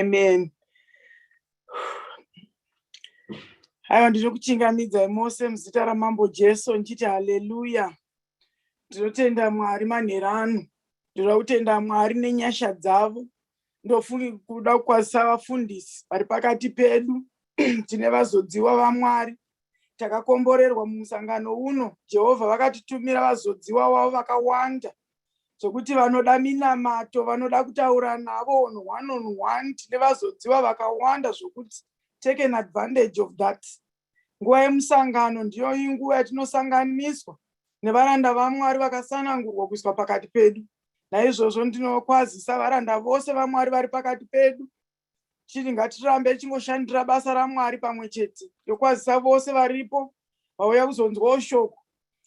Amen. Haiwa ndinokuchingamidzai mose muzita ramambo Jesu ndichiti haleluya. Ndinotenda Mwari manherano. Ndinoda kutenda Mwari nenyasha dzavo ndofungi kuda kukwazisa vafundisi vari pakati pedu tine vazodziwa vamwari takakomborerwa mumusangano uno jehovha vakatitumira vazodziwa wavo vakawanda zvekuti vanoda minamato vanoda kutaura navo on one on one tine vazodziwa vakawanda zvokuti take an advantage of that Nguva yemusangano ndiyo inguva yatinosanganiswa nevaranda vaMwari vakasanangurwa kuiswa pakati pedu. Naizvozvo ndinokwazisa varanda vose vaMwari vari pakati pedu chiri ngatirambe tichingoshandira basa raMwari pamwe chete yokwazisa vose varipo vauya kuzonzwawo shoko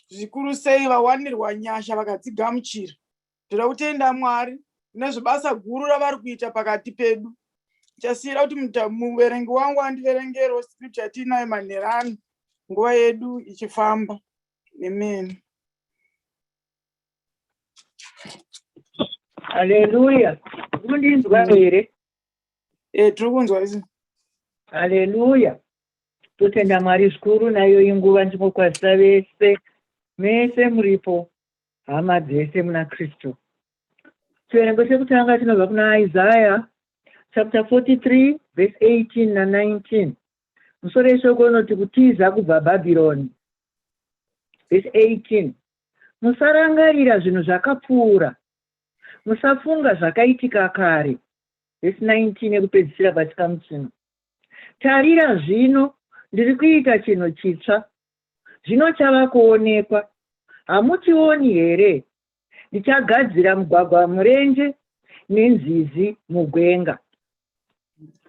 zvikuru sei vawanirwa nyasha vakadzigamuchira. Tinoda kutenda Mwari nezvebasa guru ravari kuita pakati pedu. Chasiyira kuti muverengi wangu andiverengero scripture yatiinayo manherano nguva yedu ichifamba. Amen. Hallelujah. Kundinzwa here? Eh, tiri kunzwa isi. Hallelujah. Totenda Mwari zvikuru nayo inguva ndimokwazisa vese mese muripo Hama dzese muna Kristu. Chiverengo chekutanga chinobva kuna Isaya chapter 43 verse 18 na 19. Musoro yeshoko inoti kutiza kubva Bhabhironi. Verse 18. Musarangarira zvinhu zvakapfuura. Musafunga zvakaitika kare. Verse 19 yekupedzisira pachikamu chino. Tarira zvino ndiri kuita chinhu chitsva zvino chava kuonekwa. Hamuchioni here? Ndichagadzira mugwagwa murenje nenzizi mugwenga.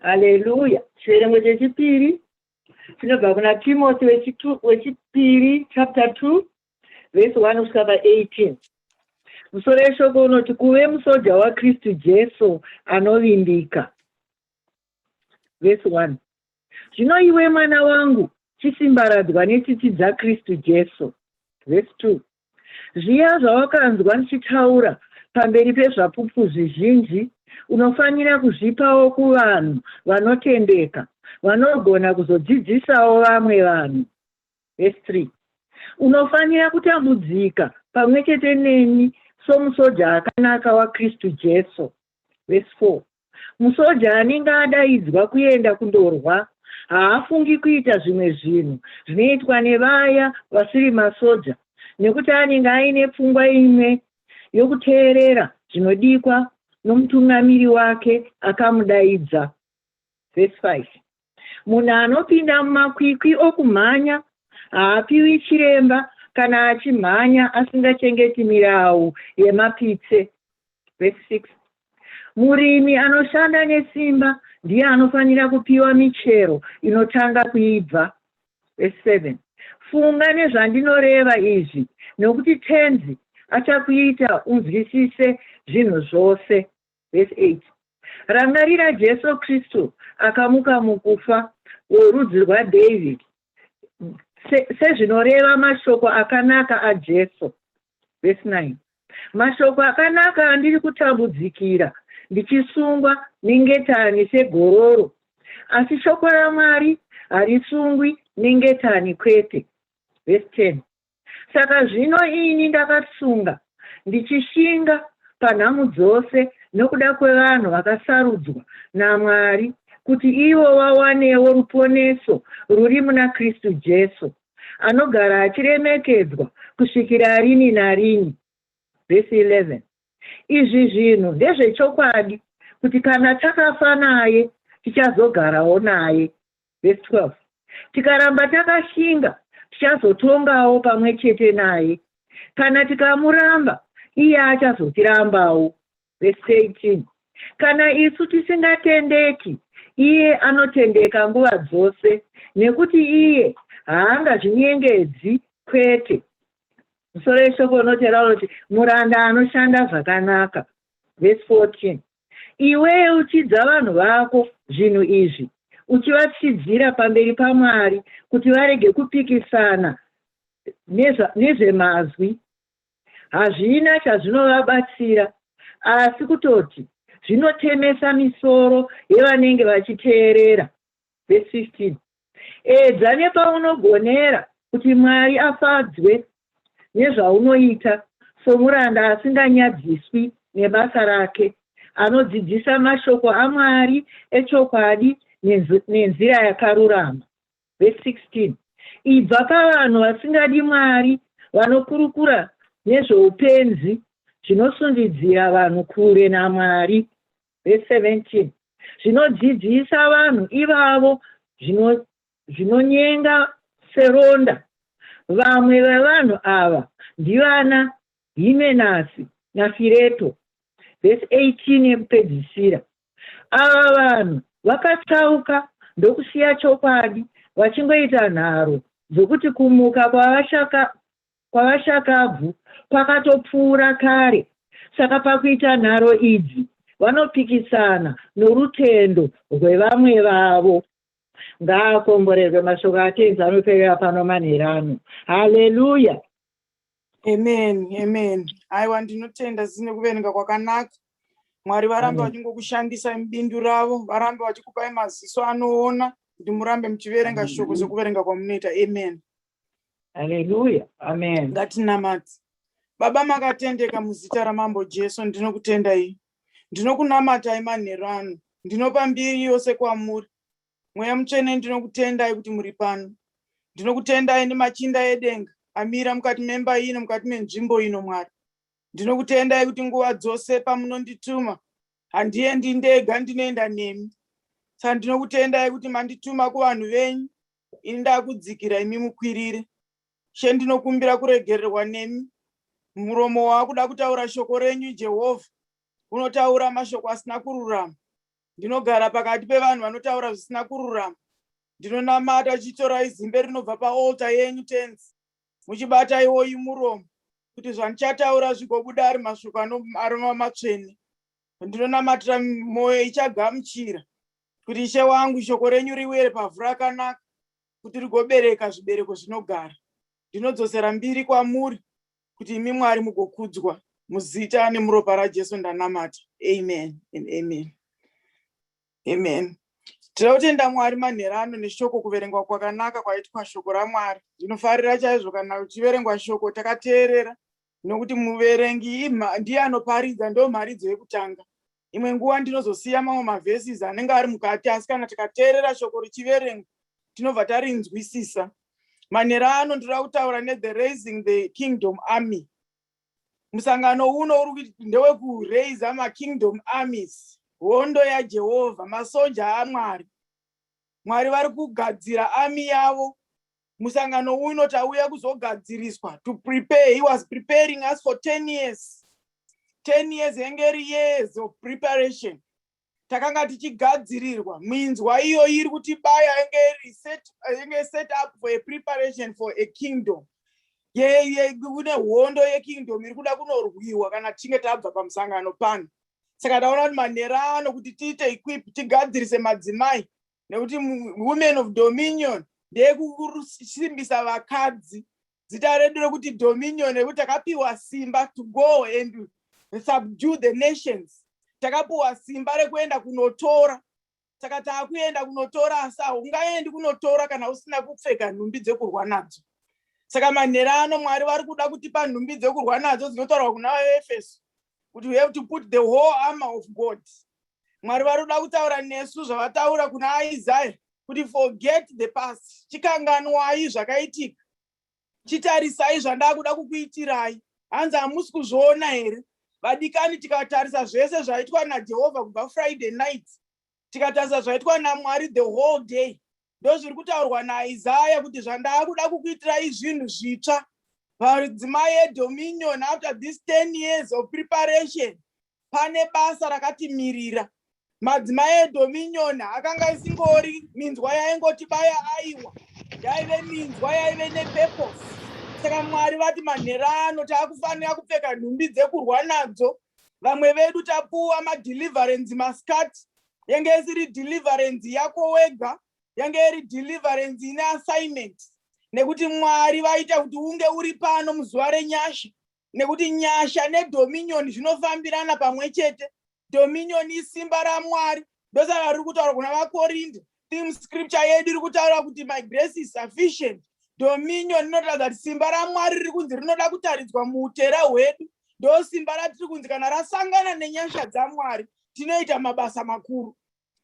Haleluya! Chiverengo chechipiri chinobva kuna Timothy wechipiri chapter 2 vhesi 1 kusvika pa 18 musoro yeshoko unoti kuve musoja wakristu jesu anovimbika vhesi 1 Zvino iwe mwana wangu, chisimbaradzwa netsitsi dzaKristu Jesu. Vhesi 2 Zviya zvawakanzwa ndichitaura pamberi pezvapupu zvizhinji, unofanira kuzvipawo kuvanhu vanotendeka, vanogona kuzodzidzisawo vamwe vanhu. Vhesi 3 Unofanira kutambudzika pamwe chete neni somusoja akanaka waKristu Jesu. Vhesi 4 Musoja anenge adaidzwa kuenda kundorwa haafungi kuita zvimwe zvinhu zvinoitwa nevaya vasiri masoja nekuti anenge aine pfungwa imwe yokuteerera zvinodikwa nomutungamiri wake akamudaidza. Verse 5. Munhu anopinda mumakwikwi okumhanya haapiwi chiremba kana achimhanya asingachengeti mirau yemapitse. Vhesi 6. Murimi anoshanda nesimba ndiye anofanira kupiwa michero inotanga kuibva. Vhesi 7. Funga nezvandinoreva izvi, nokuti Tenzi achakuita unzwisise zvinhu zvose. Verse 8 Rangarira Jesu Kristu akamuka mukufa, worudzi rwaDavid, se, sezvinoreva mashoko akanaka aJesu. Verse 9 Mashoko akanaka andiri kutambudzikira, ndichisungwa nengetani segororo, asi shoko raMwari harisungwi nengetani kwete. Verse 10 Saka zvino ini ndakatsunga, ndichishinga panhamu dzose nokuda kwevanhu vakasarudzwa naMwari, kuti ivo vawanewo ruponeso ruri muna Kristu Jesu, anogara achiremekedzwa kusvikira rini narini. Vhesi 11. Izvi zvinhu ndezvechokwadi, kuti kana takafa naye, tichazogarawo naye. Verse 12 Tikaramba takashinga, tichazotongawo pamwe chete naye, kana tikamuramba, iye achazotiraambawo. Verse 18 Kana isu tisingatendeki, iye anotendeka nguva dzose, nekuti iye haangazvinyengedzi kwete. Musoro yeshoko unotera unoti muranda anoshanda zvakanaka. Verse 14 Iwe yeuchidza vanhu vako zvinhu izvi, uchivatyidzira pamberi paMwari kuti varege kupikisana nezvemazwi, hazvina chazvinovabatsira asi kutoti zvinotemesa misoro yevanenge vachiteerera. Vhesi 15 Edza nepaunogonera kuti Mwari afadzwe nezvaunoita somuranda asinganyadziswi nebasa rake, anodzidzisa mashoko aMwari echokwadi nenzira yakarurama. Vhesi 16 Ibva pavanhu vasingadi Mwari vanokurukura nezvoupenzi zvinosundidzira vanhu kure naMwari. Verse 17 zvinodzidzisa vanhu ivavo zvino, zvinonyenga seronda. Vamwe vevanhu ava ndivana Himenasi naFireto. Verse 18 yekupedzisira ava vanhu vakatsauka ndokusiya chokwadi vachingoita nharo dzokuti kumuka kwavashaka kwavashakabvu kwakatopfuura kare saka pakuita nharo idzi vanopikisana norutendo rwevamwe vavo. Ngaakomborerwe mashoko aTenzi anoperera pano manhera ano. Haleluya! Amen, amen. Aiwa ndinotenda sisi nekuverenga kwakanaka. Mwari varambe Amen. vachingokushandisai mubindu ravo, varambe vachikupai maziso anoona kuti murambe muchiverenga Amen. shoko sekuverenga kwamunoita. Amen. Haleluya. Amen. ngatinamate baba makatendeka muzita ramambo jesu ndinokutendai ndinokunamatai manheru ano ndinopa mbiri yose kwamuri mweya mutsvene ndinokutendai kuti muri pano ndinokutendai nemachinda edenga amira mukati memba ino mukati menzvimbo ino mwari ndinokutendai kuti nguva dzose pamunondituma handiendi ndega ndinoenda nemi saka ndinokutendai kuti mandituma kuvanhu venyu ini ndakudzikira imi mukwirire she ndinokumbira kuregererwa nemi muromo waakuda kutaura shoko renyu jehovha unotaura mashoko asina kururama ndinogara pakati pevanhu vanotaura zvisina kururama ndinonamata chitorai zimbe rinobva paalta yenyu tenzi muchibata iwoyi muromo kuti zvandichataura zvigobuda ari masviko anomava matsvene ndinonamatira mwoyo ichagamuchira kuti ishe wangu shoko renyu riwere pavhu rakanaka kuti rigobereka zvibereko zvinogara ndinodzosera mbiri kwamuri kuti imi mwari mugokudzwa muzita nemuropa rajesu ndanamata amen and amen amen tinoda kutenda mwari manhera ano neshoko kuverengwa kwakanaka kwaitwa shoko ramwari ndinofarira chaizvo kana uchiverengwa shoko takateerera nokuti muverengi ndiye anoparidza ndo mharidzo yekutanga imwe nguva ndinozosiya mamwe mavhesis anenge ari mukati asi kana tikateerera shoko richiverengwa tinobva tarinzwisisa manhero ano ndinoda kutaura nethe raising the kingdom army musangano uno uri ndewekuraisa makingdom armies hondo yajehovha masoja amwari mwari vari kugadzira army yavo musangano uyu unoti auya kuzogadziriswa to prepare he was preparing us for 10 years 10 years yenge iri years of preparation takanga tichigadzirirwa minzwa iyo iri kuti baya yenge iri set, yenge set up for a preparation for a kingdom kune hondo yekingdom iri kuda kunorwiwa kana tichinge tabva pamusangano pano saka taona kuti manhero ano kuti tiite equip tigadzirise madzimai nekuti women of dominion ndeyekusimbisa vakadzi zita redu rekuti dominion rekuti takapiwa simba to go and subdue the nations takapiwa simba rekuenda kunotora saka taakuenda kunotora asi haungaendi kunotora kana usina kupfeka nhumbi dzekurwa nadzo saka manhera ano mwari vari kuda kutipa nhumbi dzekurwa nadzo dzinotaurwa kuna vaefeso kuti we have to put the whole armor of god mwari vari kuda kutaura nesu zvavataura kuna isaya kuti forget the past chikanganwai zvakaitika chitarisai zvandakuda kukuitirai hanzi hamusi kuzviona here vadikani tikatarisa zvese zvaitwa najehovha kubva friday night tikatarisa zvaitwa namwari the whole day ndozviri kutaurwa naisaya kuti zvandaakuda kukuitirai zvinhu zvitsva padzimai edominion after this 10 years of preparation pane basa rakatimirira madzimai edominion akanga isingori minzwa yaingoti baya aiwa yaive minzwa yaive nepurpose saka mwari vati manhero ano taakufanira kupfeka nhumbi dzekurwa nadzo vamwe vedu tapuwa madeliverance mascat yange isiri deliverance yako wega yange iri deliverance ine assignment nekuti mwari vaita kuti unge uri pano muzuva renyasha nekuti nyasha nedominion zvinofambirana pamwe chete dominion isimba ramwari ndosaka riri kutaura kuna vakorinde Theme scripture yedu iri kutaura kuti my grace is sufficient. Dominion inotaura kuti simba raMwari riri kunzi rinoda kutaridzwa muutera hwedu. Ndo simba ratiri kunzi kana rasangana nenyasha dzaMwari tinoita mabasa makuru.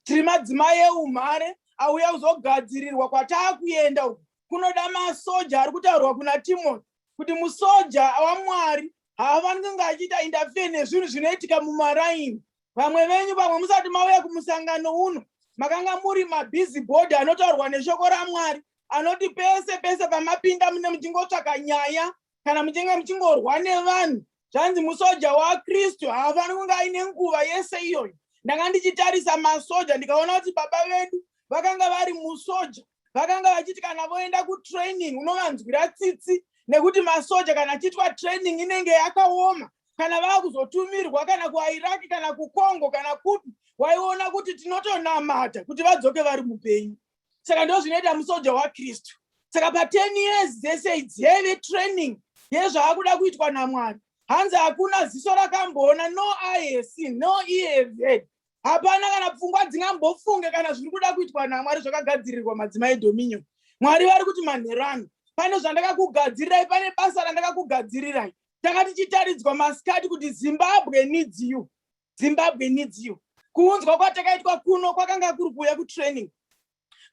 Tiri madzimai eumhare auya kuzogadzirirwa kwataakuenda uku kunoda masoja ari kutaurwa kuna Timothy kuti musoja waMwari haafaniri kunge achiita interfere nezvinhu zvinoitika mumaraini vamwe venyu vamwe musati mauya kumusangano uno makanga muri mabhizi bhodhi anotaurwa neshoko ramwari anoti pese pese pamapinda mune muchingotsvaka nyaya kana muchinge muchingorwa nevanhu zvanzi musoja wakristu haafani kunge aine nguva yese iyoyo ndanga ndichitarisa masoja ndikaona kuti baba vedu vakanga vari musoja vakanga vachiti kana voenda kutraining unovanzwira tsitsi nekuti masoja kana achiitwa training inenge yakaoma kana vava kuzotumirwa kana kuiraki kana kucongo kana kupi waiona kuti tinotonamata kuti vadzoke vari mupenyu saka ndo zvinoita musoja wakristu saka pa10 years dzese idzi yaive training yezvaakuda kuitwa namwari hanzi hakuna ziso rakamboona no ihc no eaved hapana kana pfungwa dzingambofunge kana zviri kuda kuitwa namwari zvakagadzirirwa madzimai dominion mwari vari kuti manhero ano pane zvandakakugadzirirai pane basa randakakugadzirirai tanga tichitaridzwa masikati kuti zimbabwe needs you zimbabwe needs you kuunzwa kwatakaitwa kuno kwakanga kuri kuuya kutraining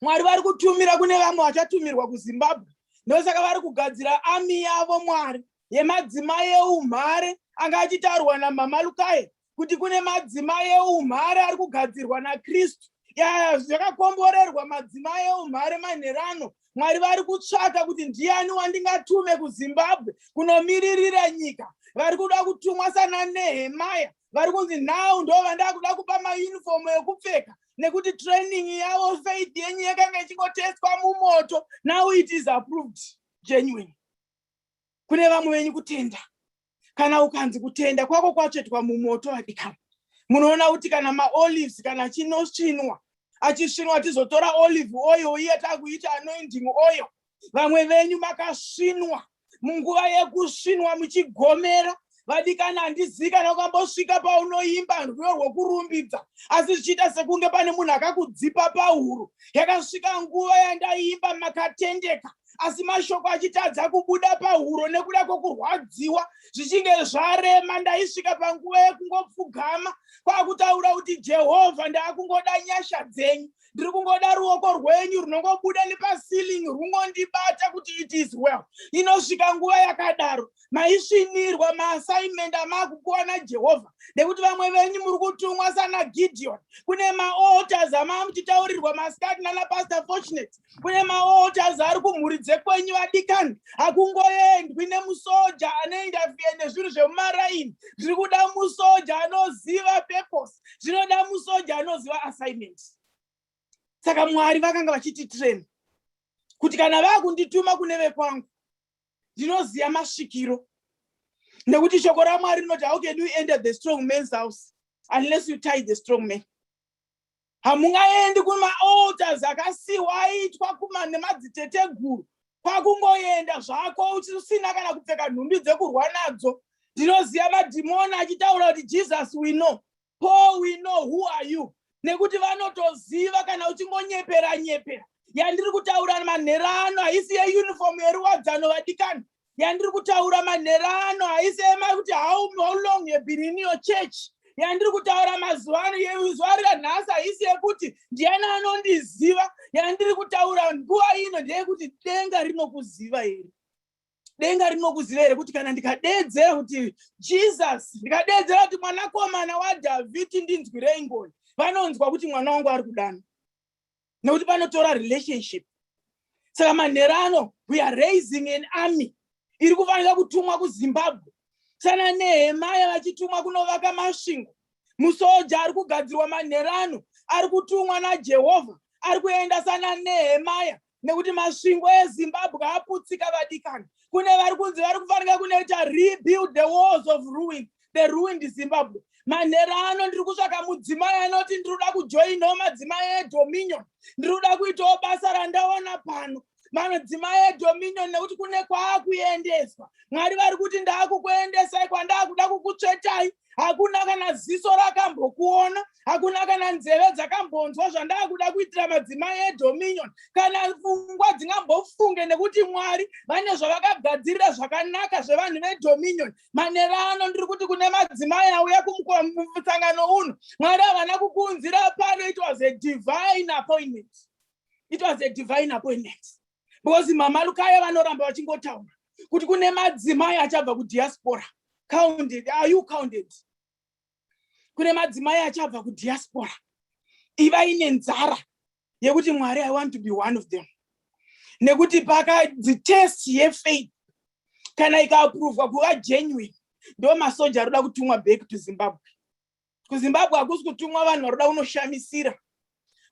mwari vari kutumira kune vamwe vachatumirwa kuzimbabwe ndosaka vari kugadzira ami yavo mwari yemadzimai eumhare anga achitaurwa namama lukai kuti kune madzimai eumhare ari kugadzirwa nakristu ya zvakakomborerwa madzimai eumhare manherano mwari vari kutsvaka kuti ndiani wandingatume kuzimbabwe kunomiririra nyika vari kuda kutumwa sana nehemaya vari kunzi now ndo vandakuda kupa maunifomu ekupfeka nekuti training yavo faith yenyu yakanga ichingotestwa mumoto now it is approved genuine kune vamwe venyu kutenda kana ukanzi kutenda kwako kwatsvetwa mumoto vadikana munoona kuti kana maolives kana chinosvinwa achisvinwa tizotora olive oil iye takuita anoinding oil vamwe venyu makasvinwa munguva yekusvinwa muchigomera vadikani handizivi kana ukambosvika paunoimba rwiyo rwokurumbidza asi zvichiita sekunge pane munhu akakudzipa pahuro yakasvika nguva yandaiimba makatendeka asi mashoko achitadza kubuda pahuro nekuda kwokurwadziwa zvichinge zvarema ndaisvika panguva yekungopfugama kwakutaura kuti jehovha ndaakungoda nyasha dzenyu ndiri kungoda ruoko rwenyu runongobuda nepasiling rungondibata kuti it is well inosvika nguva yakadaro maisvinirwa maassignment amaakupiwa najehovha nekuti vamwe venyu muri kutumwa sana gideon kune maotas amaa muchitaurirwa masikati nanapastor fortunate kune maotas ari kumhuri dzekwenyu vadikani hakungoendwi nemusoja anoinda fie nezvinhu zvemumaraini ndiri kuda musoja anoziva purpose zvinoda musoja anoziva assignment saka mwari vakanga vachiti train kuti kana vakundituma kune vekwangu ndinoziva masvikiro nekuti shoko ramwari rinoti how can you enter the strong man's house unless you tie the strong man hamungaendi kumaalters akasiwa aitwa kuma nemadziteteguru kwakungoenda zvako usina kana kupfeka nhumbi dzekurwa nadzo ndinoziva madhimoni achitaura kuti jesus we know paul we know who are you nekuti vanotoziva kana uchingonyepera nyepera yandiri kutaura manhero ano haisi yeunifomu yeruwadzano vadikani yandiri kutaura manhero ano haisi ema kuti how long you been in your church yandiri kutaura mazuva ano yezuva ranhasi haisi yekuti ndiyani anondiziva yandiri kutaura nguva ino ndeyekuti denga rinokuziva here denga rinokuziva here kuti kana ndikadeedzera kuti jesus ndikadeedzera kuti mwanakomana wadhavhidhi ndinzwirei ngoni vanonzwa kuti mwana wangu ari kudana nekuti panotora relationship saka manhero ano we are raising an army iri kufanira kutumwa kuzimbabwe sana nehemaya vachitumwa kunovaka masvingo musoja ari kugadzirwa manhero ano ari kutumwa najehovha ari kuenda sana nehemaya nekuti masvingo ezimbabwe aputsika vadikani kune vari kunzi vari kufanira kunoita rebuild the walls of ruin the ruined zimbabwe manhera ano ndiri kutsvaka mudzimai anoti ndiri kuda kujoinawo madzimai edominion ndiri kuda kuitawo basa randaona pano manodzimai edominion nekuti kune kwaakuendeswa mwari vari kuti ndaakukuendesai kwandaakuda kukutsvetai hakuna kana ziso rakambokuona hakuna kana nzeve dzakambonzwa zvandaakuda kuitira madzimai edominion kana pfungwa dzingambofunge nekuti mwari vane zvavakagadzirira zvakanaka zvevanhu vedominion manera ano ndiri kuti kune madzimai auya kumusangano uno mwari havana kukuunzira pano it was a divine appointment it was a divine appointment because mama lukaya vanoramba vachingotaura kuti kune madzimai achabva kudiaspora counted are you counted kune madzimai achabva kudiaspora ivai nenzara yekuti mwari i want to be one of them nekuti pakadzitest yefaith kana ikaaprovwa kuva genuine ndo masoja aroda kutumwa back to zimbabwe kuzimbabwe hakusi kutumwa vanhu varoda kunoshamisira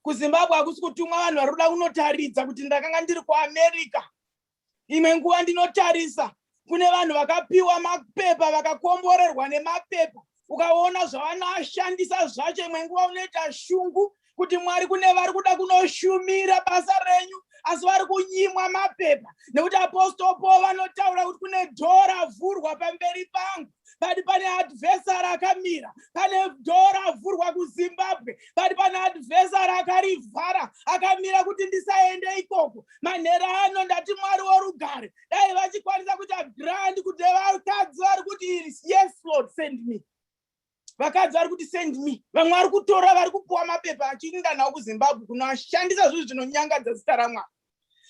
kuzimbabwe hakusi kutumwa vanhu varoda kunotaridza kuti ndakanga ndiri kuamerica imwe nguva ndinotarisa kune vanhu vakapiwa mapepa vakakomborerwa nemapepa ukaona zvavanoshandisa zvacho imwe nguva unoita shungu kuti mwari kune vari kuda kunoshumira basa renyu asi vari kunyimwa mapepa nekuti apostol paul vanotaura kuti kune dhoo ravhurwa pamberi pangu but pane adversary akamira pane dhora avhurwa kuzimbabwe but pane adversary akarivhara akamira kuti ndisaende ikoko manhera ano ndati mwari worugare dai vachikwanisa kuita grand kuti vakadzi vari kuti yes lord send me vakadzi vari kuti send me vamwe vari kutora vari kupuwa mapepa achiinda nawo kuzimbabwe kunoashandisa zvinhu zvinonyangadza zita ramwari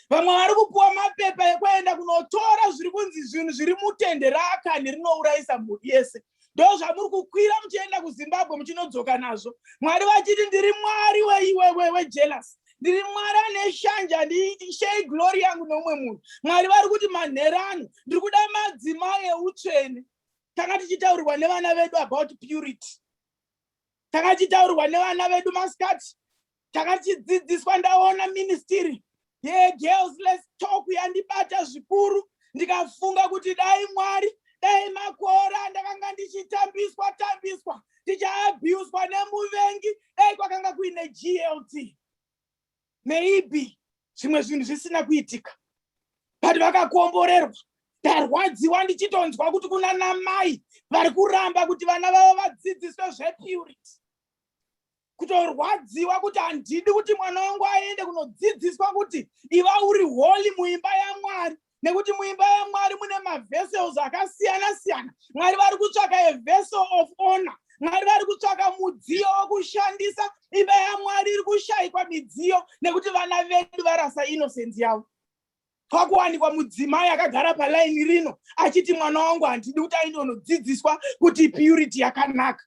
vamwe vari kupiwa mapepa ekuenda kunotora zviri kunzi zvinhu zviri mutende raakani rinourayisa mhuri yese ndo zvamuri kukwira muchienda kuzimbabwe muchinodzoka nazvo mwari vachiti ndiri mwari wejelas ndiri mwari ane shanje handishei glori yangu neumwe munhu mwari vari kuti manherano ndiri kuda madzimai eutsvene tanga tichitaurirwa nevana vedu about purity takachitaurwa nevana vedu masikati takachidzidziswa ndaona ministiri yegirls lets talk yandibata zvikuru ndikafunga kuti dai mwari dai makore andakanga ndichitambiswa tambiswa ndichaabhuswa nemuvengi dai kwakanga kuine glt maybe zvimwe zvinhu zvisina kuitika but vakakomborerwa ndarwadziwa ndichitonzwa kuti kuna namai vari kuramba kuti vana vavo vadzidziswe zvepurity kutorwadziwa kuti handidi kuti mwana wangu aende kunodzidziswa kuti iva uri holy muimba yamwari nekuti muimba yamwari mune mavessels akasiyana siyana mwari vari kutsvaka a vessel of honor mwari vari kutsvaka mudziyo wokushandisa imba yamwari iri kushayikwa midziyo nekuti vana vedu varasa inosenzi yavo kwakuwanikwa mudzimai akagara palaini rino achiti mwana wangu handidi kuti aende unodzidziswa kuti purity yakanaka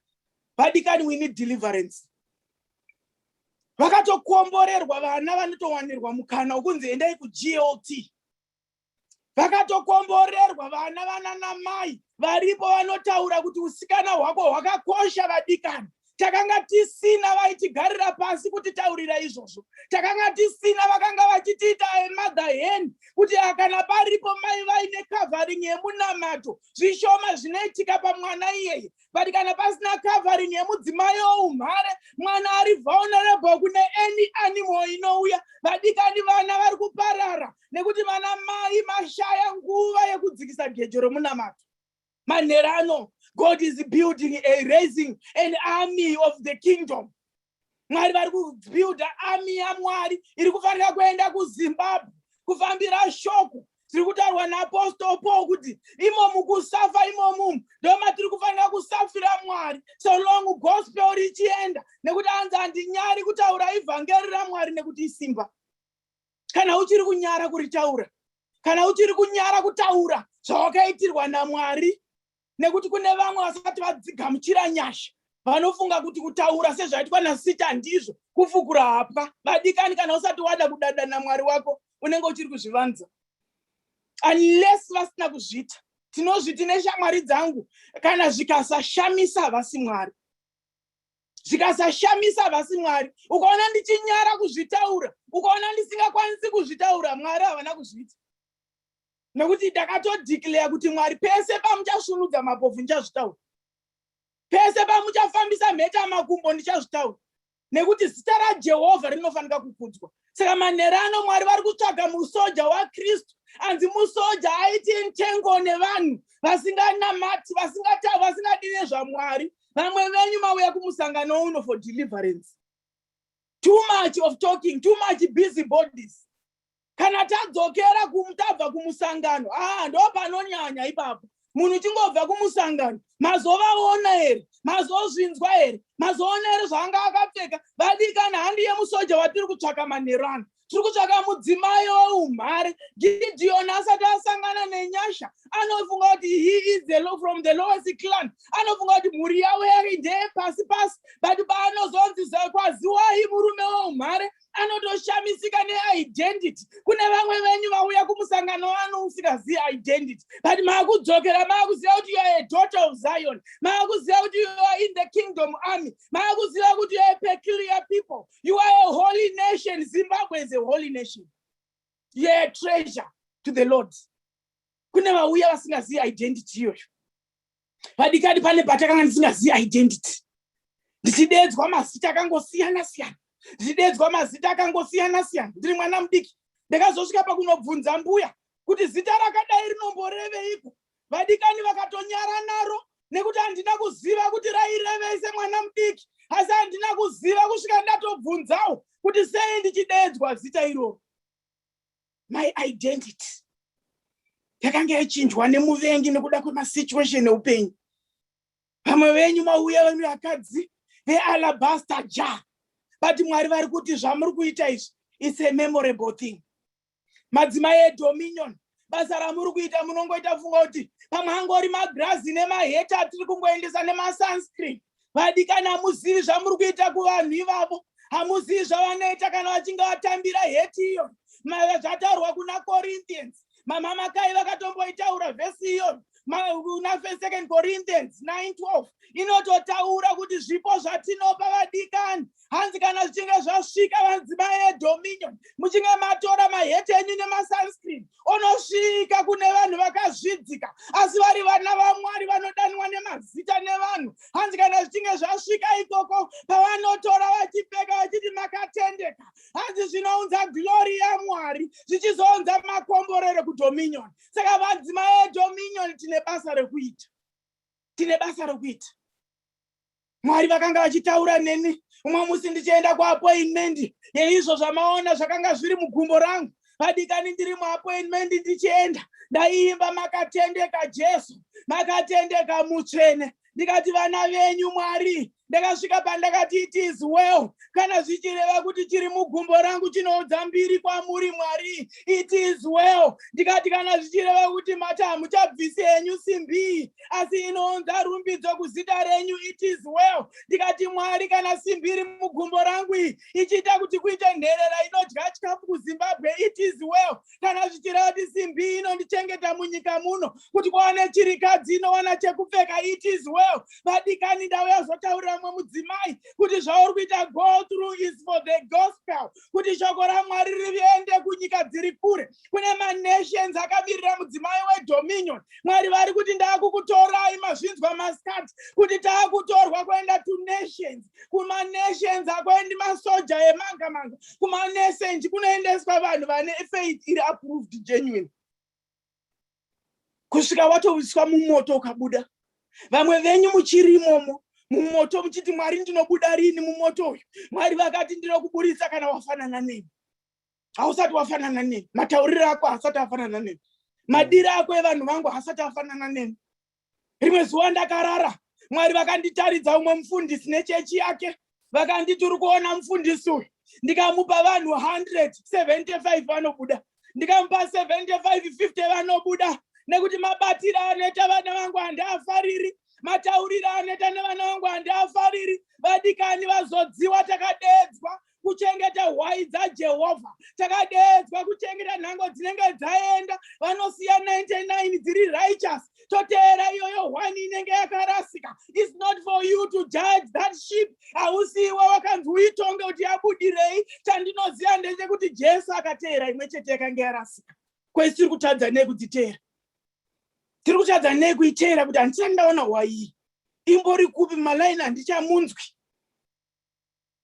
vadikani we need deliverance vakatokomborerwa vana vanotowanirwa mukana wekunzi endai kuglt vakatokomborerwa vana vananamai varipo vanotaura kuti usikana hwako hwakakosha vadikani takanga tisina vaitigarira pasi kuti taurira izvozvo takanga tisina vakanga vachitiita emother hen kuti ah, kana paripo mai vaine covering yemunamato zvishoma zvinoitika pamwana iyeye but kana pasina covering yemudzimai oumhare mwana ari vulnerable kune any animal inouya vadikani vana vari kuparara nekuti vana mai mashaya nguva yekudzikisa gejo romunamato manherano god is building a raising an army of the kingdom mwari vari kubuilda army yamwari iri kufanira kuenda kuzimbabwe kufambira shoko tiri kutaurwa naapostol paul kuti imomu kusafa imomu ndomatiri kufanira kusafira mwari so long gospel richienda nekuti anzi handinyari kutaura ivhangeri ramwari nekuti isimba kana uchiri kunyara kuritaura kana uchiri kunyara kutaura zvawakaitirwa namwari nekuti kune vamwe vasati vadzigamuchira nyasha vanofunga kuti kutaura sezvaitwa nasita ndizvo kufukura hapwa vadikani kana usati wada kudada namwari wako unenge uchiri kuzvivanza unless vasina kuzviita tinozviti neshamwari dzangu kana zvikasashamisa havasi mwari zvikasashamisa havasi mwari ukaona ndichinyara kuzvitaura ukaona ndisingakwanisi kuzvitaura mwari havana kuzviita nekuti ndakatodeclare kuti mwari pese pamuchasvunudza mapofu ndichazvitaura pese pamuchafambisa mheta makumbo ndichazvitaura nekuti zita rajehovha rinofanika kukudzwa saka manhero ano mwari vari kutsvaga musoja wakristu anzi musoja aiti ntengo nevanhu vasinganamati vasingatavi vasingadii nezvamwari vamwe venyu mauya kumusangano uno for deliverance too much of talking too much busy bodies kana tadzokera tabva kumusangano aa ah, ndo panonyanya ipapo munhu chingobva kumusangano mazovaona here mazozvinzwa here mazoona here zvaanga akapfeka vadikana handi yemusoja watiri kutsvaka manhero ano tiri kutsvaka mudzimai weumhare gidiyoni asati asangana nenyasha anofunga kuti he is the low from the lowest clan anofunga kuti mhuri yavo yari ndeyepasi pasi but paanozonzi kwaziwai murume weumhare anotoshamisika neidentity kune vamwe venyu vauya kumusangano wano usingazivi identity but maakudzokera maakuziva kuti youare daughter of zion maakuziva kuti youare in the kingdom army maakuziva kuti youare peculiar people you are a holy nation zimbabwe is a holy nation youare a treasure to the lord kune vauya vasingazivi identity iyoyo padikadi pane patakanga ndisingazivi identity ndichideedzwa mazita akangosiyana siyana ndichideedzwa mazita akangosiyana siyana ndiri mwana mudiki ndakazosvika pakunobvunza mbuya kuti zita rakadai rinomboreveiko vadikani vakatonyara naro nekuti handina kuziva kuti rairevei semwana mudiki asi handina kuziva kusvika ndatobvunzawo kuti sei ndichideedzwa zita iroro my identity yakanga yachinjwa nemuvengi nekuda kwemasituation eupenyu vamwe venyu mauya venyu vakadzi vealabaster ja but mwari vari kuti zvamuri kuita izvi its a memorable thing madzimai edominion basa ramuri kuita munongoita funga kuti pamwe angori magrazi nemaheta atiri kungoendesa nemasunscreen vadikani hamuzivi zvamuri kuita kuvanhu ivavo hamuzivi zvavanoita kana vachinge vatambira heti iyo maiva zvataurwa kuna corinthians mamamakai vakatomboitaura vhesi iyoyo kuna second corinthians 912 inototaura kuti zvipo zvatinopa vadikani hanzi kana zvichinge zvasvika vanzimai edominion muchinge matora maheti enyu nemasunscreen onosvika kune vanhu vakazvidzika asi vari vana vamwari vanodanwa nemazita nevanhu hanzi kana zvichinge zvasvika ikoko pavanotora vachipfeka vachiti makatendeka hanzi zvinounza glori yamwari zvichizounza makomborero kudominion saka vanzimai edominion tine basa rekuita tine basa rekuita mwari vakanga vachitaura neni umwe musi ndichienda kuapoinmendi yeizvo zvamaona zvakanga zviri mugumbo rangu padikani ndiri muapoinmendi ndichienda ndaiimba makatendeka jesu makatendeka mutsvene ndikati vana venyu mwari ndakasvika pandakati it is well kana zvichireva kuti chiri mugumbo rangu chinoudza mbiri kwamuri mwari it is well ndikati kana zvichireva kuti mati hamuchabvisi henyu simbi asi inounza rumbidzo kuzita renyu it is well ndikati mwari kana simbi iri mugumbo rangu iyi ichiita kuti kuite nherera inodya chikafu kuzimbabwe it is well kana zvichireva kuti simbi inondichengeta munyika muno kuti kwawane chirikadzi inowana chekupfeka it is well vadikani ndauya zotaurira mumwe mudzimai kuti zvauri kuita go through is for the gospel kuti shoko ramwari riende kunyika dziri kure kune manations akamirira mudzimai wedominion mwari vari kuti ndaakukutorai mazvinzwa maskat kuti taakutorwa kuenda to nations kumanation akwendi masoja emanga manga kumanesenji kunoendeswa vanhu vane faith iri approved genuine kusvika watoviswa mumoto ukabuda vamwe venyu muchiri imomo mumoto muchiti mwari ndinobuda rini mumoto uyu mwari vakati ndinokuburitsa kana wafanana neni hausati wafanana neni matauriro ako haasati afanana neni madiro ako evanhu vangu haasati afanana neni rimwe zuva ndakarara mwari vakanditaridza umwe mufundisi nechechi yake vakanditi uri kuona mufundisi uyu ndikamupa vanhu 175 vanobuda ndikamupa 7550 vanobuda nekuti mabatiro anoita vana vangu handiafariri matauriro anoita nevana vangu handiafariri vadikani vazodziwa takadeedzwa kuchengeta hwai dzajehovha takadeedzwa kuchengeta nhango dzinenge dzaenda vanosiya 99 dziri righteous toteera iyoyo hwani inenge yakarasika is not for you to judge that ship hausiiwe wakanzi uitonge kuti yabudirei chandinoziva ndechekuti jesu akateera imwe chete yakange yarasika kwese tiri kutadza nei kudziteera tiri kutadza nei kuiteera kuti handisati ndaona hwaiyi imbori kupi malaini handichamunzwi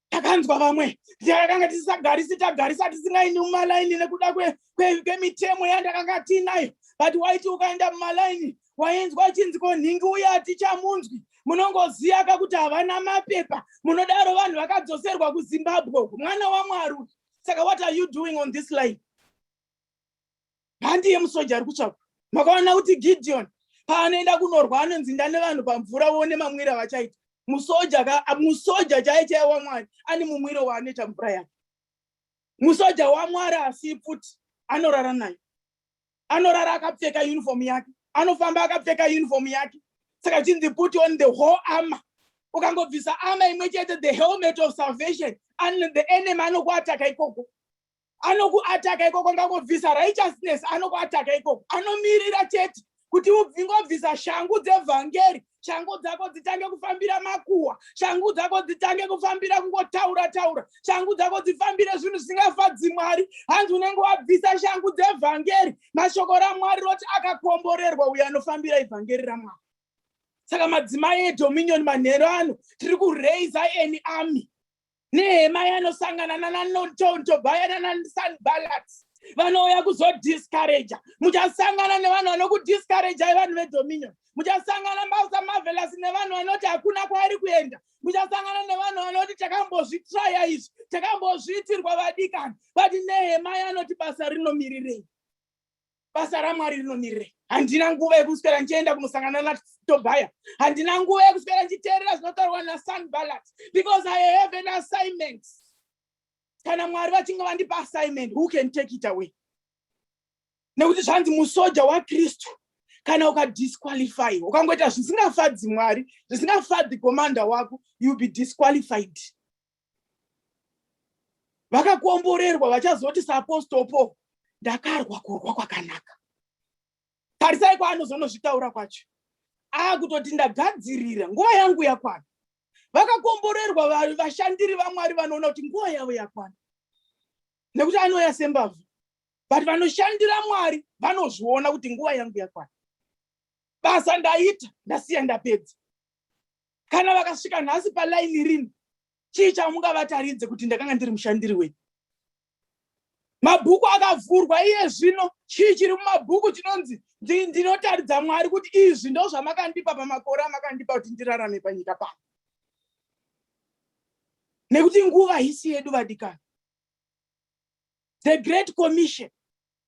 takanzwa vamwe ndakanga tisisagarisi tagarisa tisingaindi mumalaini nekuda kwemitemo yandakanga tiinayo but waiti ukaenda mumalaini wainzwa achinzi ko nhingi uye hatichamunzwi munongoziva ka kuti havana mapepa munodaro vanhu vakadzoserwa kuzimbabwe mwana wamwari saka what are you doing on this line handiye musoja ari kutsvakwa makaona kuti gideon paanoenda kunorwa anonzinda nevanhu pamvura vone mamwira vachaita musoja musoja chaiye chaiye wamwari ane mumwiro waanoita mvura yake musoja wamwari asi pfuti anorara nayo anorara akapfeka uniform yake anofamba akapfeka uniform yake saka chinzi put on the whole armor ukangobvisa armor imwe chete the helmet of salvation and the enemy anokuataka ikoko anokuataka ikoko ngangobvisa righteousness anokuataka ikoko anomirira chete kuti ubvingobvisa shangu dzevhangeri shangu dzako dzitange kufambira makuwa shangu dzako dzitange kufambira kungotaura taura shangu dzako dzifambire zvinhu zvisingafadzi mwari hanzi unenge wabvisa shangu dzevhangeri mashoko ramwari roti akakomborerwa uyo anofambira ivhangeri ramwari saka madzimai edominion manhero ano tiri kuraiza any army nehema yanosangana nananotobaya nanasanbalat vanouya kuzodiscouraja muchasangana nevanhu vanokudiscouraja yevanhu vedominion muchasangana mbausa marvelous nevanhu vanoti hakuna kwaari kuenda muchasangana nevanhu vanoti takambozvitraya izvi takambozviitirwa vadikani but nehema yanoti basa rinomirirei basa ramwari rinomirire handina nguva yekuswera ndichienda kunosangana natobhaya handina nguva yekuswera ndichiteerera zvinotaurwa nasanbalat because i have an assignment kana mwari vachinge vandipa assignment who can take it away nekuti zvanzi musoja wakristu kana ukadisqualify ukangoita zvisingafadzi mwari zvisingafadzi commander wako youll be disqualified vakakomborerwa vachazoti saapostol paul ndakarwa kurwa kwakanaka tarisai kwaanozonozvitaura kwacho aakutoti ndagadzirira nguva yangu yakwana vakakomborerwa vashandiri vamwari vanoona kuti nguva yavo yakwana nekuti anoya sembavhu but vanoshandira mwari vanozviona kuti nguva yangu yakwana basa ndaita ndasiya ndapedza kana vakasvika nhasi palaini rini chii chamungavataridze kuti ndakanga ndiri mushandiri wenyu mabhuku akavhurwa iye zvino chii chiri mumabhuku chinonzi ndinotaridza mwari kuti izvi ndo zvamakandipa pamakore amakandipa kuti ndirarame panyika pano nekuti nguva hisi yedu vadikani the great commission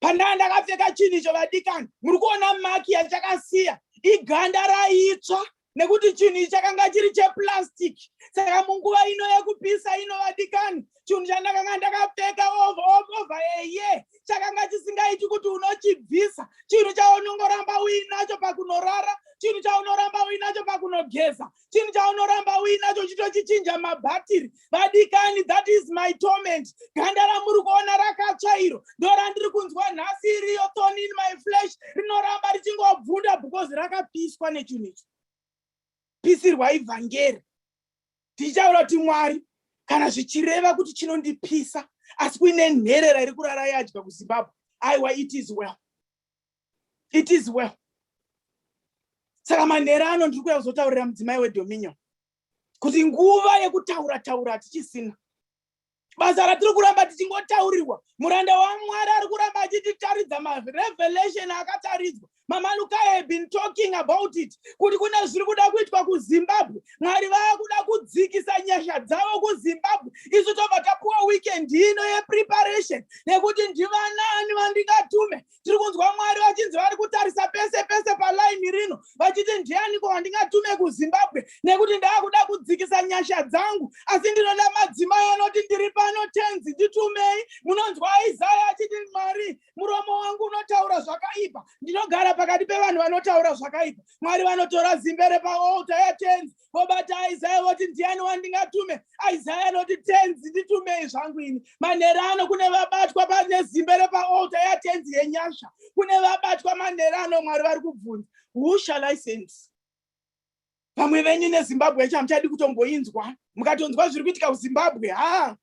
pandanga ndakapfeka chinhu icho vadikani muri kuona maki yachakasiya iganda raitsva nekuti chinhu ichi chakanga chiri cheplastic saka munguva ino yekupisa ino vadikani chinhu chandakanga ndakapfeka ovova eye chakanga chisingaiti kuti unochibvisa chinhu chaunongoramba uinacho pakunorara chinhu chaunoramba uinacho pakunogeza chinhu chaunoramba uinacho chitochichinja mabhatiri vadikani that is my torment ganda ramuri kuona rakatsva iro ndorandiri kunzwa nhasi iriyo thon in my flesh rinoramba richingobvunda because rakapiswa nechinhu ichi pisirwa ivhangeri tichitaura kuti mwari kana zvichireva kuti chinondipisa asi kuine nherera iri kurara yadya kuzimbabwe aiwa it is well it is well saka manhera ano ndiri kuya kuzotaurira mudzimai wedominion kuti nguva yekutaura taura hatichisina basa ratiri kuramba tichingotaurirwa muranda wamwari ari kuramba achititaridza marevelation akataridzwa mamanukaya have been talking about it kuti kune zviri kuda kuitwa kuzimbabwe mwari vava kuda kudzikisa nyasha dzavo kuzimbabwe isu tobva tapuwa weekend ino yepreparation nekuti ndivanaani vandingatume tiri kunzwa mwari vachinzi vari kutarisa pese pese palaini rino vachiti ndianiko wandingatume kuzimbabwe nekuti ndaakuda kudzikisa nyasha dzangu asi ndinoda madzimai anoti ndiri pano tenzi nditumei munonzwa isaya achiti mwari muromo wangu unotaura zvakaipa ndinogara pakati pevanhu vanotaura zvakaipa mwari vanotora zimbe repaolta yatenzi vobata isaya voti ndiani wandingatume isaya anoti tenzi nditumei zvangu ini manhero ano kune vabatwa pane zimbe repaolta yatenzi yenyasha kune vabatwa manhero ano mwari vari kubvunza who shall i send vamwe venyu nezimbabwe yacho hamuchadi kutomboinzwa mukatonzwa zviri kuitika kuzimbabwe ha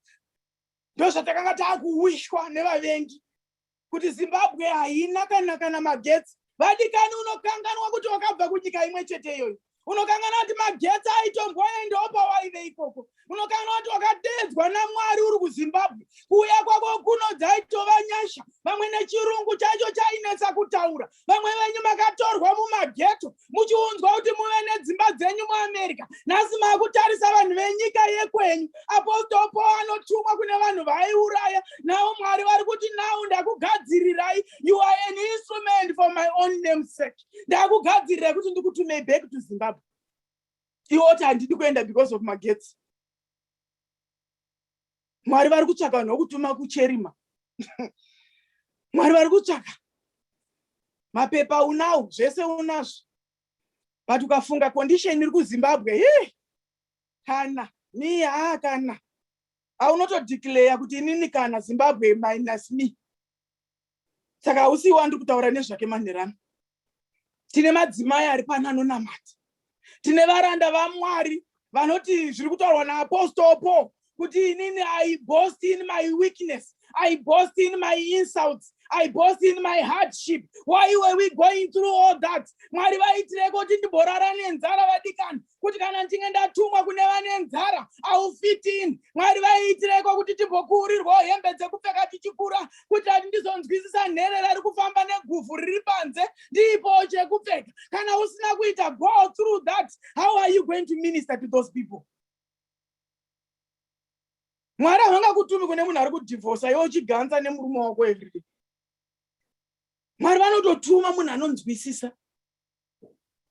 ndozvatakanga taakuwishwa nevavengi kuti zimbabwe haina kana kana magetsi vadikani unokanganwa kuti wakabva kunyika imwe chete iyoyo unokanganwa kuti magetsi aitomboendawo pawaive ikoko unokanganwa kuti wakateedzwa namwari uri kuzimbabwe kuuya kwako kuno dzaitova nyasha vamwe nechirungu chaicho chainetsa kutaura vamwe venyu makatorwa mumageto muchiunzwa kuti muve nedzimba dzenyu muamerica nhasi makutarisa vanhu venyika yekwenyu apostol paul anotumwa kune vanhu vaiuraya navo mwari vari kuti nau ndakugadzirirai you are an instrument for my own name sake ndakugadzirirai kuti ndikutumei back to zimbabwe iwoti handidi kuenda because of magetsi mwari vari kutsvaka vanhu vokutuma kucherima mwari vari kutsvaka mapepa unawo zvese unazvo but ukafunga condition iri kuzimbabwe hi kana mi haa kana aunotodeclare kuti inini kana zimbabwe minus me saka hausi iwe andiri kutaura nezvake manherano tine madzimai ari pano anonamata tine varanda vamwari vanoti zviri kutaurwa naapostle paul kuti inini i boast in my weakness i boast in my insults i boast in my hardship why were we going through all that mwari vaitireko kuti ndimborara nenzara vadikani kuti kana ndinge ndatumwa kune vane nzara aufitini mwari vaiitireko kuti timbokuurirwawo hembe dzekupfeka tichikura kuti ati ndizonzwisisa nherera ari kufamba neguvhu riri panze ndiipowo chekupfeka kana usina kuita go through that how are you going to minister to those people mwari havanga kutumi kune munhu ari kudhivhosa iwe uchiganza nemurume wako everyday mwari vanototuma munhu anonzwisisa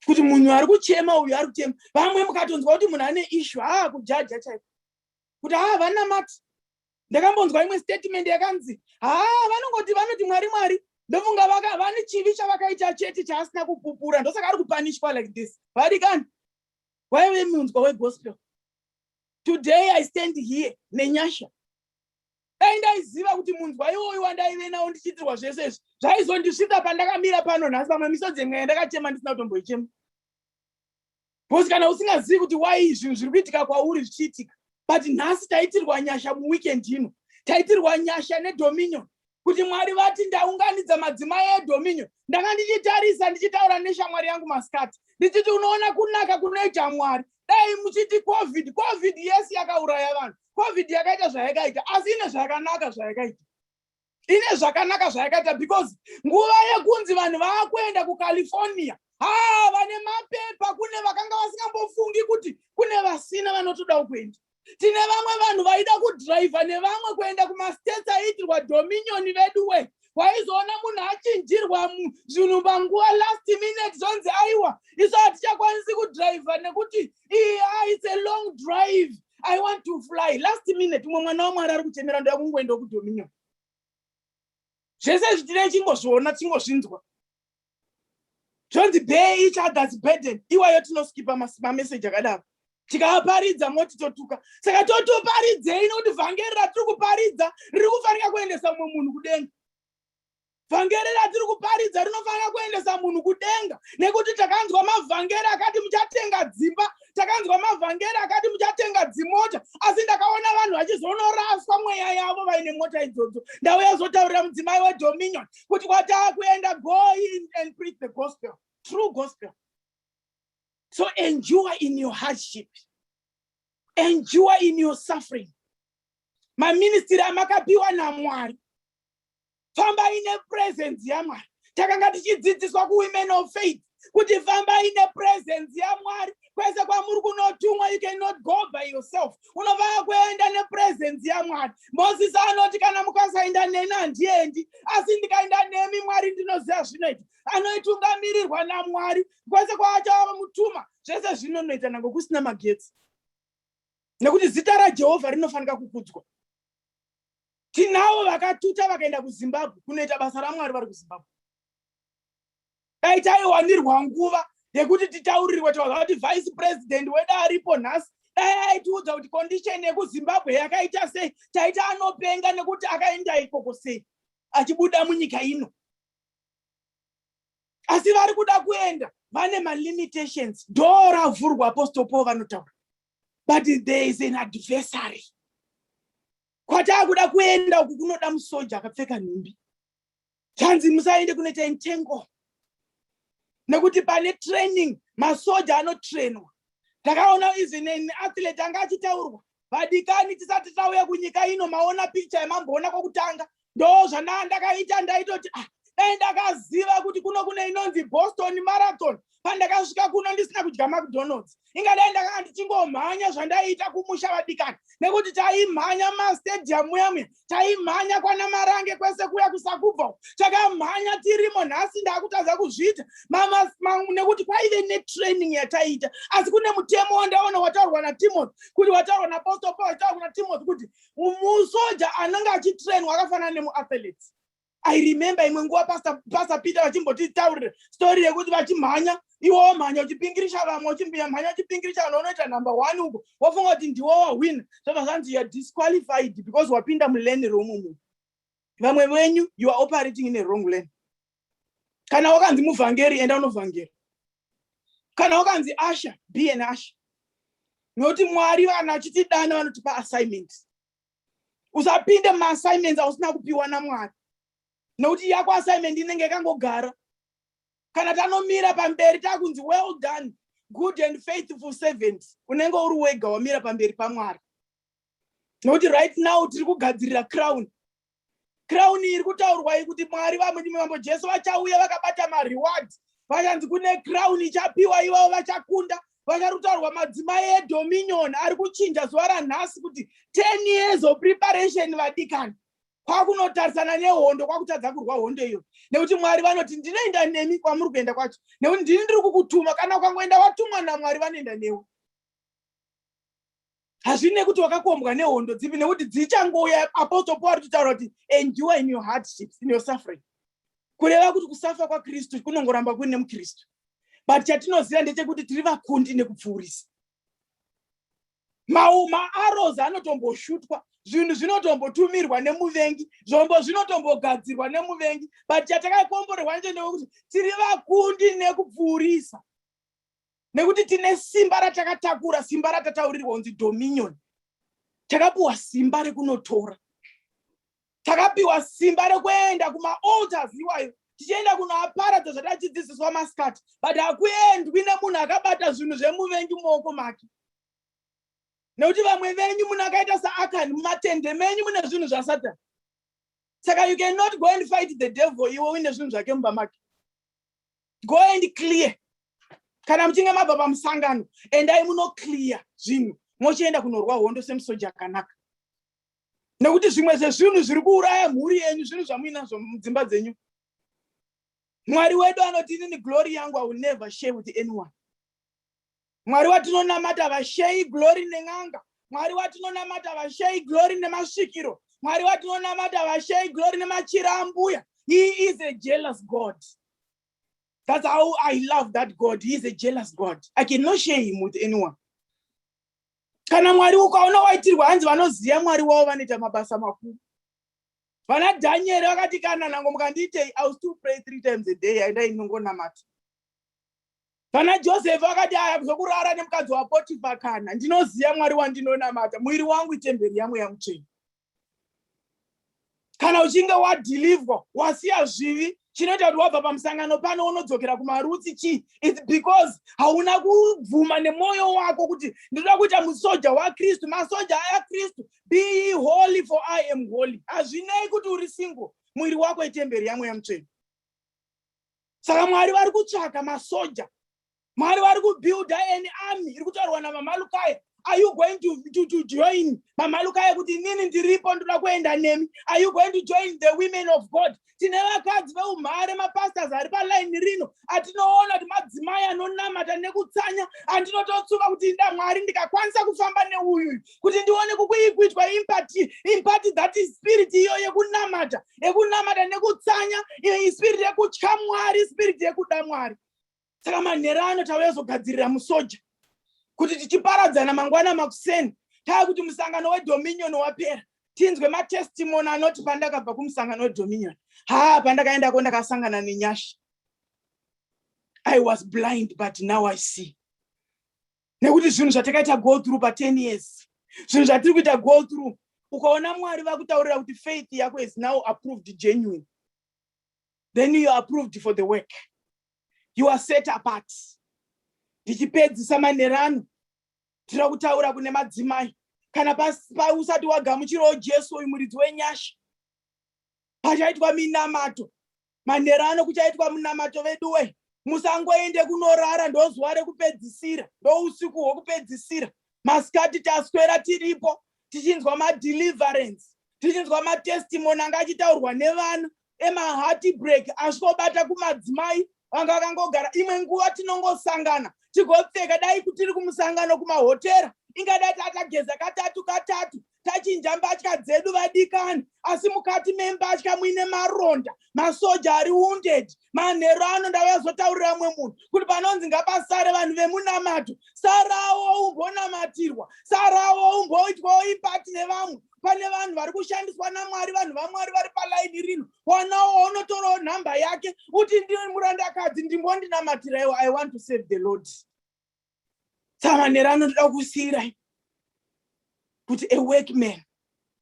kuti munhu ari kuchema uyu ari kuchema vamwe mukatonzwa kuti munhu ane ishu haa kujaja chaiko kuti haa vanamati ndakambonzwa imwe statement yakanzi haa vanongoti vanoti mwari mwari ndofunga vane chivi chavakaita chete chaasina kupupura ndosaka ari kupanishwa like this vari kani waive munzwa wegospel today i stand here nenyasha dai ndaiziva kuti munzwa iwoyu wandaive nawo ndichiitirwa zvese izvi zvaizondisvika pandakamira pano nhasi pamwe misodzi yemwe yandakachema ndisina kutomboichema bcause kana usingazivi kuti wai zvinhu zviri kuitika kwauri zvichiitika but nhasi taitirwa nyasha muweekend ino taitirwa nyasha nedominion kuti mwari vati ndaunganidza madzimai edominio ndanga ndichitarisa ndichitaura neshamwari yangu masikati ndichiti unoona kunaka kunoita mwari dai muchiti covid covid yes yakauraya vanhu covid yakaita zvayakaita asi ine zvakanaka zvayakaita ine zvakanaka zvayakaita because nguva yekunzi vanhu vaakuenda kucalifornia haa vane mapepa kune vakanga vasingambofungi kuti kune vasina vanotodawo kuenda tine vamwe vanhu vaida kudhiraivha nevamwe kuenda kumastates aiitirwa dominion veduwe waizoona munhu achinjirwa zvinhu panguva last minute zvonzi aiwa isu hatichakwanisi kudhiraivha nekuti iye aise long drive i want to fly last minute umwe mwana wamwari ari kuchemera ndoya kungoenda kudominion zvese zvitinei chingozviona chingozvinzwa zvonzi bear each others burden iwayo tinoskipa mameseji akadaro tikaparidza moti totuka saka totoparidzei nokuti vhangeri ratiri kuparidza riri kufanika kuendesa mumwe munhu kudenga vhangeri ratiri kuparidza rinofanira kuendesa munhu kudenga nekuti takanzwa mavhangeri akati muchatenga dzimba takanzwa mavhangeri akati muchatenga dzimota asi ndakaona vanhu vachizonoraswa mweya yavo vaine mota idzodzo ndauya zotaurira mudzimai wedominion kuti kwataakuenda go in and preach the gospel true gospel so endure in your hardship endure in your suffering maministiri amakapiwa namwari fambai nepresence yamwari takanga tichidzidziswa kuwomen of faith kuti fambai nepresence yamwari kwese kwamuri kunotumwa you cannot go by yourself unofanira kuenda nepresence yamwari mosisi anoti kana mukasaenda neni handiendi asi ndikaenda nemi mwari ndinoziva zvinoita anoitungamirirwa namwari kwese kwaachava mutuma zvese zvinonoita nango kusina magetsi nekuti zita rajehovha rinofanira kukudzwa tinavo vakatuta vakaenda kuzimbabwe kunoita basa ramwari vari kuzimbabwe dai taiwanirwa nguva yekuti titaurirwe tavaza kuti vice president wedu aripo nhasi dai aitiudza kuti condition yekuzimbabwe yakaita sei taita anopenga nekuti akaenda ikoko sei achibuda munyika ino asi vari kuda kuenda vane malimitations doo ravhurwa apostle paul vanotaura but there is an adversary kwataakuda kuenda uku kunoda musoja akapfeka nhumbi zvanzi musaende kunoita entangle nekuti pane training masoja anotrainwa ndakaona even an athlete anga achitaurwa vadikani tisati tauya kunyika ino maona picture yamamboona kwokutanga ndo zvanaa ndakaita ndaitoti ah dai ndakaziva kuti kuno kune inonzi boston marathon pandakasvika kuno ndisina kudya macdonalds ingadai ndakanga ndichingomhanya zvandaiita kumusha vadikani nekuti taimhanya mastadium muyamuya taimhanya kwana marange kwese kuya kusakubva takamhanya tirimo nhasi ndaakutadza kuzviita nekuti kwaive netraining yataiita asi kune mutemo wandaona wataurwa natimothy kuti wataurwa napostle paul wataurwa natimothy kuti musoja anenge achitrainwa akafanana nemuathletes i remember imwe nguva pastor, pastor peter vachimbotitaurira story yekuti vachimhanya iwo womhanya uchipingirisha vamwe uchimhanya uchipingirisha vanhu unoita number one uko wofunga kuti ndiwo wahwina zvobva zvanzi youare disqualified because wapinda mulane romu munhu vamwe venyu you are operating in a wrong lane kana wakanzi muvhangeri enda unovhangera kana wakanzi asha be an asha nokuti mwari vanhu vachitidana vanotipa assignment usapinde maassignments ausina kupiwa namwari nokuti yako assignment inenge yakangogara kana tanomira pamberi takunzi well done good and faithful servant unenge uri wega wamira pamberi pamwari nokuti right now tiri kugadzirira crown Crown iri kutaurwa iyi kuti Mwari vambo Jesu vachauya vakabata mareward. Vachanzi kune crown ichapiwa ivavo vachakunda. Vacharutaurwa madzimai edominion ari kuchinja zuva ranhasi kuti 10 years of preparation vadikani. Kwakunotarisana nehondo kwakutadza kurwa hondo iyo. Nekuti Mwari vanoti ndinoenda nemi kwamuri kuenda kwacho. Nekuti ndini ndiri kukutuma kana ukangoenda watumwa naMwari vanoenda newe. hazvine kuti wakakombwa nehondo dzipi nekuti dzichangouya apostle paul ari kutaura kuti endure in your hardships in your suffering kureva kuti kusafa kwakristu kunongoramba kuine mukristu but chatinoziva ndechekuti tiri vakundi nekupfuurisa maaros anotomboshutwa zvinhu zvinotombotumirwa nemuvengi zvombo zvinotombogadzirwa nemuvengi but chatakakomborerwa nje ndewekuti tiri vakundi nekupfuurisa nekuti tine simba ratakatakura simba ratataurirwa kunzi dominion takapiwa simba rekunotora takapiwa simba rekuenda kumaalters iwayo tichienda kunoaparadza zvatachidzidziswa masikati but hakuendwi nemunhu akabata zvinhu zvemuvengi mumaoko make nekuti vamwe venyu munhu akaita saakani mumatende menyu mune zvinhu zvasatani saka you cannot go and fight the devil iwe uine zvinhu zvake mumba make go and clear kana muchinge mabva pamusangano endai munoclear zvinhu mochienda kunorwa hondo semusoja akanaka nekuti zvimwe zvezvinhu zviri kuuraya mhuri yenyu zvinhu zvamuinazvo mudzimba dzenyu mwari wedu anoti inini glory yangu i will never share with anyone mwari watinonamata vashei glory nen'anga mwari watinonamata vashei glory nemasvikiro mwari watinonamata vashei glory nemachira ambuya he is a jealous god that's how i love that god he is a jealous god i cannot share him with anyone kana mwari ukaona waitirwa hanzi vanoziva mwari wavo vanoita mabasa makuru vana dhanieri vakati kana nango mukandiitei i will still pray three times a day aindai ndinongonamata kana josefi akati aya zvokurara nemukadzi wapotifa kana ndinoziva mwari wandinonamata muviri wangu itemberi yamweya mutsveni kana uchinge wadhilivwa wasiya zvivi chinoita kuti wabva pamusangano pano unodzokera kumarutsi chii its because hauna kubvuma nemwoyo wako kuti ndinoda kuita musoja wakristu masoja aya kristu be holy for i am holy hazvinei kuti uri single mwiri wako itemberi yamweya mutsveni saka mwari vari kutsvaga masoja mwari vari kubuilda an army iri kutaurwa namamalukaya are you going to, to, to join mamalukaya kuti inini ndiripo ndoda kuenda nemi are you going to join the women of god tine vakadzi veumhare mapastors ari paline rino atinoona kuti madzimai anonamata nekutsanya andinototsuka kuti inda mwari ndikakwanisa kufamba neuyu kuti ndione kukuikuitwa impati impati that is spirit iyo yekunamata yekunamata nekutsanya spirit yekutya mwari spirit yekuda mwari saka manhero ano tauya zogadzirira musoja kuti tichiparadzana mangwana makuseni taa kuti musangano wedominion wapera tinzwe matestimony anoti pandakabva kumusangano wedominion haa pandakaendako ndakasangana nenyasha i was blind but now i see nekuti zvinhu zvatakaita go through pa 10 years zvinhu zvatiri kuita go through ukaona mwari vakutaurira kuti faith yako is now approved genuine then you are approved for the work you are set apart ndichipedzisa manerano tira kutaura kune madzimai kana pausati wagamuchirawo jesu uyu muridzi wenyasha pachaitwa minamato manhero ano kuchaitwa munamato veduwe musangoende kunorara ndozuva rekupedzisira ndousiku hwokupedzisira masikati taswera tiripo tichinzwa madeliverance tichinzwa matestimony anga achitaurwa nevana emahati break asvobata kumadzimai vanga vakangogara imwe nguva tinongosangana tigopfeka dai kutiri kumusangano kumahotera ingadai tatageza katatu katatu tachinja mbatya dzedu vadikani asi mukati membatya muine maronda masoja ari wounded manhero ano ndavazotaurira mumwe munhu kuti panonzi ngapasare vanhu vemunamato sarawo umbonamatirwa sarawo umboitwawo ipati nevamwe pane vanhu vari kushandiswa namwari vanhu vamwari vari palaini rino wanawo unotorawo nhamba yake uti ndiri murandakadzi ndimbondinamatirai i want to save the lord tsavanera anotoda kusiirai kuti a workman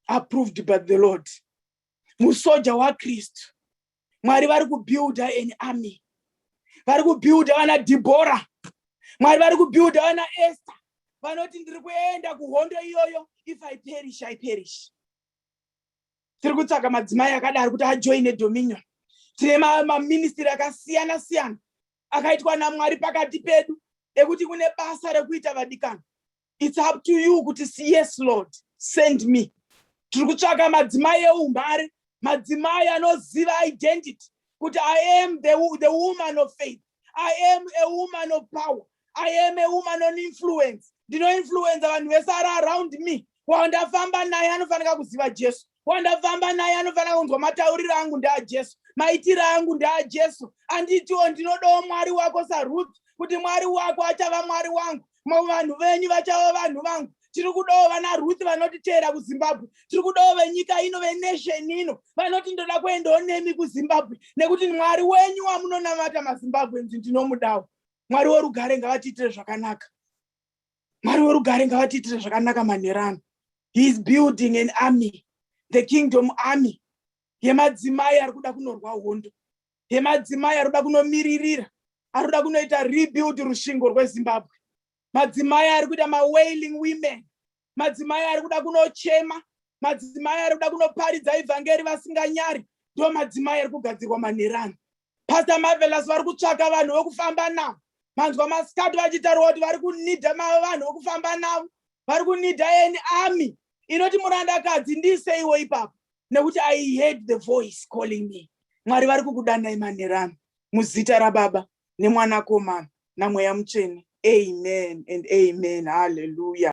approved by the lord musoja wakristu mwari vari kubuilda an army vari kubuilda vana dhibhora mwari vari kubuilda vana ester vanoti ndiri kuenda kuhondo iyoyo if i perish i perish tiri kutsvaga madzimai akadaro kuti ajoine dominion tine maministiri akasiyana siyana akaitwa namwari pakati pedu ekuti kune basa rekuita vadikana its up to you kuti yes lord send me tiri kutsvaka madzimai eumhare madzimai anoziva identity kuti i am the, the woman of faith i am a woman of power i am a woman on influence ndinoinfluenza vanhu vese ari around me wandafamba naye anofanira kuziva jesu wandafamba naye anofanira kunzwa matauriro angu ndaajesu maitiro angu ndaajesu anditiwo ndinodawo mwari wako saruth kuti mwari wako achava mwari wangu vanhu venyu vachava vanhu vangu tiri kudawo vana ruth vanotiteera kuzimbabwe tiri kudawo venyika ino venation ino vanoti ndoda kuendawo nemi kuzimbabwe nekuti mwari wenyu wamunonamata mazimbabwe nzi ndinomudawo mwari worugare ngavatiitire zvakanaka mwari werugare ngavatiitire zvakanaka manherano heis building an army the kingdom army yemadzimai ari kuda kunorwa hondo yemadzimai ari kuda kunomiririra ari kuda kunoita rebuild rushingo rwezimbabwe madzimai ari kuita mawailing women madzimai ari kuda kunochema madzimai ari kuda kunoparidza ivhangeri vasinganyari ndo madzimai ari kugadzirwa manherano pastor marvelous vari kutsvaka vanhu vekufamba navo manzwa masikati vachitaurwa kuti vari kunidha vanhu vekufamba navo vari kunidha any army inoti murandakadzi ndiiseiwo ipapo nekuti i heard the voice calling me mwari vari kukudanai manherano muzita rababa nemwanakomana namweya mutsvene amen and amen halleluya